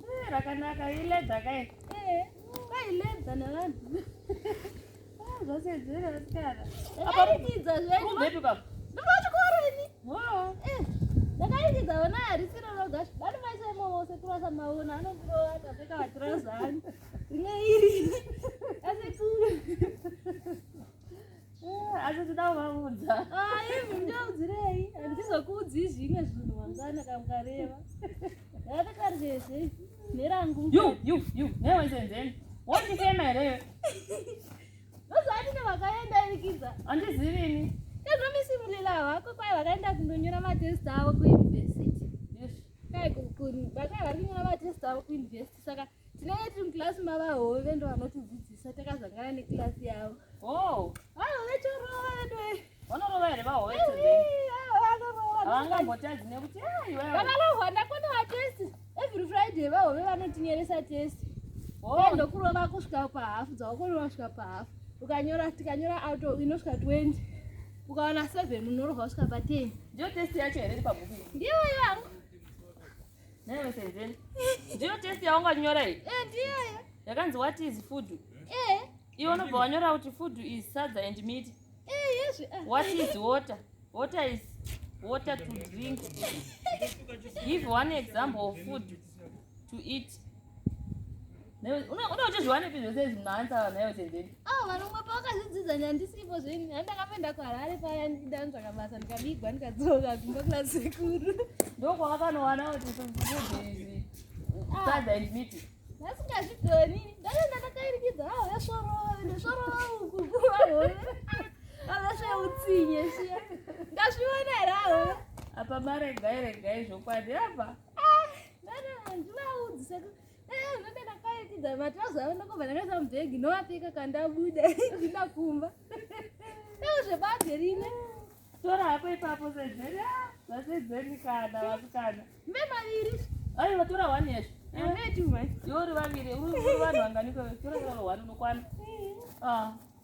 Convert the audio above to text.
Eh, rakanaka iledza kai eh, kailedza nevanhu ah, zvasedzera vasikana akaridza zveduvepi baba ndovachikorini eh, ndakairidza ona harisiro roga vanu maisemo vose kurasa maona anondirova akapfeka vatirauza ani ringe iri asekuru Eh, asi tida kuvaudza ah, ivi ndaudzirei handizokuudzi zvimwe zvinhu mangwana kamkareva ndakatakarezve nerangu you you you newe senzeni wondifema here iwe ndozoatine vakaenda irikidza handizirini ezvomisimulela hwako kwai vakaenda kundonyora matest avo kuuniversity kai vakai vari kunyora matest avo kuuniversity saka tinenge tiri mukilasi mavahove ndo vanotidzidzisa takazangana nekilasi yavo oh. vahove chorova vedoe vanorova here vahove havangambotadzi nekuti vakalohwa ndakona vatesti every friday vahove vanotinyeresa testi oh. ndokurova kusvika pahafu dzawakorova kusvika pahafu ukanyora tikanyora auto inosvika 20 ukaona 7 unorova kusvika pa 10 ndiyo testi yacho here iri pabhuku ndiyo yangu Never say then. Ndiyo test yaunganyora iyi. Eh, ndiyo. Yakanzi what is food? Eh. Iwe unobva wanyora kuti food is sadza and meat. Eh, yes. Ah. What is water? Water is water to drink. Give one example of food to eat. unoda uchizviwanepi zvese izvi maansa vanhu ayo senzeni awo ah, vanomwe pavakazidzidza nyandisipo zveni ani ndakapenda kuharare paya ndidanzvaka basa ndikabigwa ndikadzoka kumba kuna sekuru ndokwavakanowana kuti zviizi ah. sadza and miti ndasingazvigoni ndatoenda ndakairikidza awo ah, yasvorova ndosvorova uku avesveutsinye shiya ndazviona here awo apa maregai regai zvokwadi apa ndovapfeka kandabuda ndina kumba dai zvebage rine tora hapo ipapo sedzeni vasedzeni kana vasikana mbe maviri ai vatora one yesho yori vaviri uri vanhu vanganiko tora one unokwana